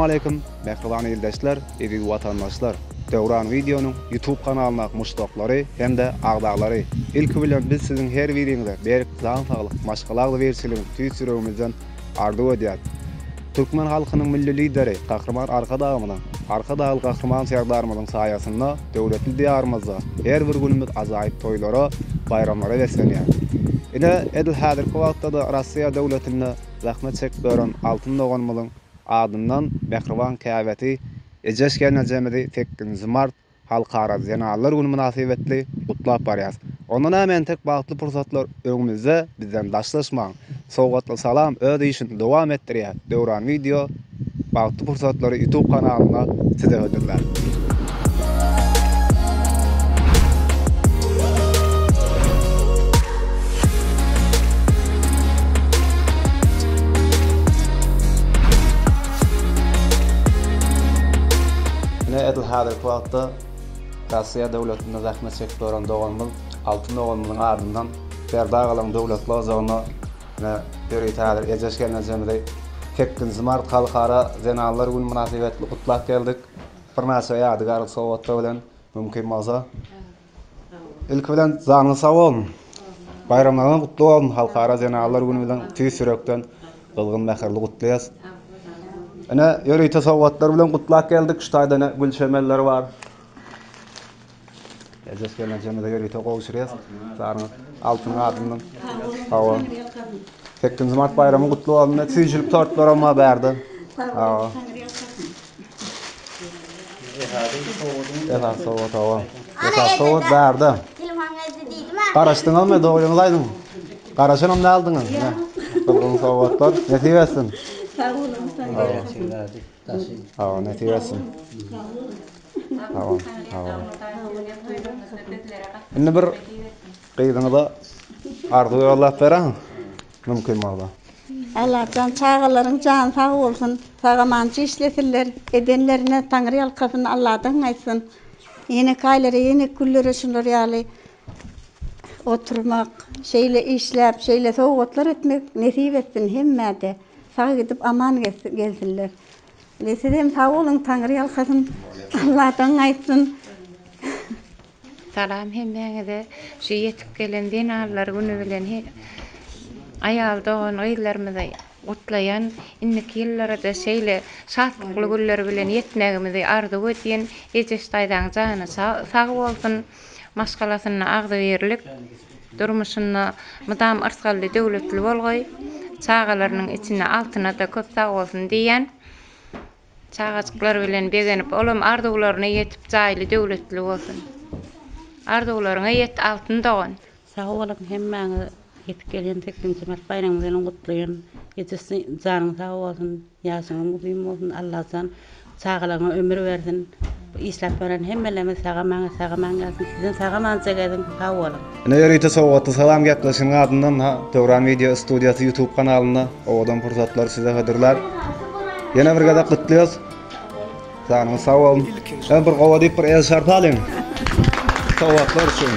Assalamualeýkum, mähriban ildeşler, eziz watandaşlar. Döwran wideonyň YouTube kanalyna muşdaklary hem-de agzalary. Ilki bilen biz siziň her biriňize berk jan saglyk, maşgala agzybirçiligi tüýs ýüregimizden arzuw edýär. Türkmen halkynyň Milli Lideri Gahryman Arkadagymyzyň, Arkadagly Gahryman Serdarymyzyň saýasynda döwletli Diýarymyzda her bir günümiz ajaýyp toýlara, baýramlara beslenýär. Ine, edil häzirki wagtda-da Russiýa döwletinde zähmet çekip ören altyn doganymyzyň adyndan mähriban käbesi Eje-şenejemizi sekizinji mart Halkara zenanlar güni mynasybetli gutlap barýas. Onda näme entek bagtly pursatlar öňümizde bizden daşlaşmaň. Sowgatly salam öz işini dowam etdirýä Döwran wideo bagtly pursatlary ýutub kanalynda size hödürlär. Häzirki wagtda Rossiýa döwletinde zähmet çekip ýören doganymyz Altyn doganymyzyň adyndan Berdagalygyň döwletli ojagyna we ýörite häzir Ejeş gelnejemizi sekizinji mart Halkara zenanlar güni mynasybetli gutlap geldik. Birnäçe ýadygärlik sowgatlar bilen, mümkin bolsa. Ilki bilen janyňyz sag bolsun. Baýramlaryňyz gutly bolsun. Halkara zenalar güni bilen tüýs ýürekden gyzgyn mähirli gutlaýas. Ine, ýörite sowgatlar bilen gutlap geldik. Şu taýda ine gül çemenleri bar. Ejes gelneçemize ýörite gowy uçraýas. Janyňyz altyn gadyndan. Hawa. Sekizinji mart baýramy gutly bolsun. Süýjülik tortlaram bar bärde. Hawa. Esas sowat hawa. Esas sowat bärde. Garaşdyňyzmy? Dogryňyzy aýdyň. Garaşanam däldiňiz. Gyzgyn sowatlar. Nesip etsin. Sag boluň. Hawa, nesip etsin. Hawa, hawa. Indi bir gyzyňyza arzuw ýollap beräň. Mümkin bolsa. Allajan çagalaryň jany sag bolsun sagamanjy işlesinler edenlerine taňryýalkasyn Alladan aýtsyn ýeneki aýlara ýeneki günlere şular ýaly oturmak şeýle işläp şeýle sowgatlar etmek nesip etsin hemmäde sag gidip aman gelsinler sizem sag boluň taňryýalkasyn Alladan aýtsyn. Salam hemmäňize şu ýetip gelen zenanlar güni bilen aýal dogan gyzlarymyzy gutlaýan indiki ýyllarada şeýle şatlykly günler bilen ýetmegimizi arzuw edýän Ejeş daýzaň jany sag bolsun maşgalasynda agzybirlik durmuşynda mydam yrsgally döwletli bolgaý çagalarynyň içinde altynada köp sag bolsun diýýän. Çagajyklar bilen begenip olam arzuwlaryna ýetip jaýly döwletli bolsun. Arzuwlaryňa ýet altyn dogan. Sag boluň hemmäňiz ýetip gelýän sekizinji mart baýramyňyz bilen gutlaýan Edis janyň sag bolsun ýaşyňyz uzyn bolsun Allajan çagalaryňa ömür bersin. Işläp gören hemmelerimiz sagamaňyz sagamaň gelsin sizin sagamanja gezin sag boluň. Ine ýörite sowgatly salam gepleşiginiň adyndan ha Döwran wideo studiýasy ýutub kanalynda owadan pursatlary size hödürlär. Ýene bir gezek gutlaýas. Janyňyz sag bolsun. Ýa bir gowa diýip bir el şarpy alyň. Sowgatlar üçin.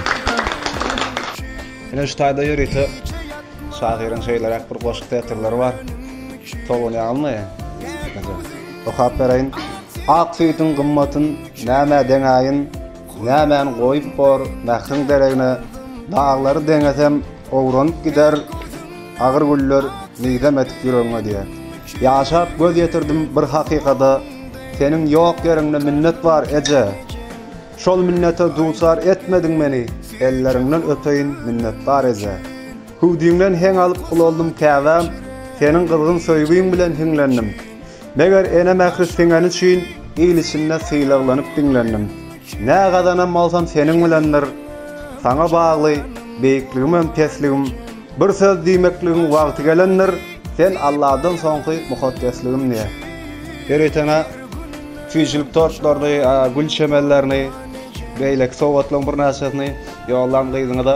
Ine şu taýda ýörite şahyryň şeýleräk bir goşgy setirleri bar. Tolgunýazmy? Okap bereýin. Ak süýdüň gymmatyn nämä deňäýin, Nämäni goýup bor mähriň deregine, Daglary deňesem owranyp gider agyr güller Nigdem edip ýüregiňe diýer. Ýaşap göz ýetirdim bir hakykada, Seniň ýok ýeriňde minnet bar, eje! Şol minnete duçar etmediň meni, Elleriňden öpeýin, minnetdar eje! Hüwdüňden heň alyp ulaldym käbäm, Seniň gyzgyn söýgiň bilen hiňlendim. Meger ene mähri siňeni üçin il içinde sylaglanyp diňlendim. Nä gazanan bolsam seniň bilendir. Saňa bagly, beýikligimem pesligim. Bir söz diýmekligiň wagty gelendir, sen Alladan soňky mukaddesligim diýýär. Ýöritene süýjülik tortlaryny, gül çemenlerini, beýleki sowgatlaryň birnäçesini ýollan gyzyňyza.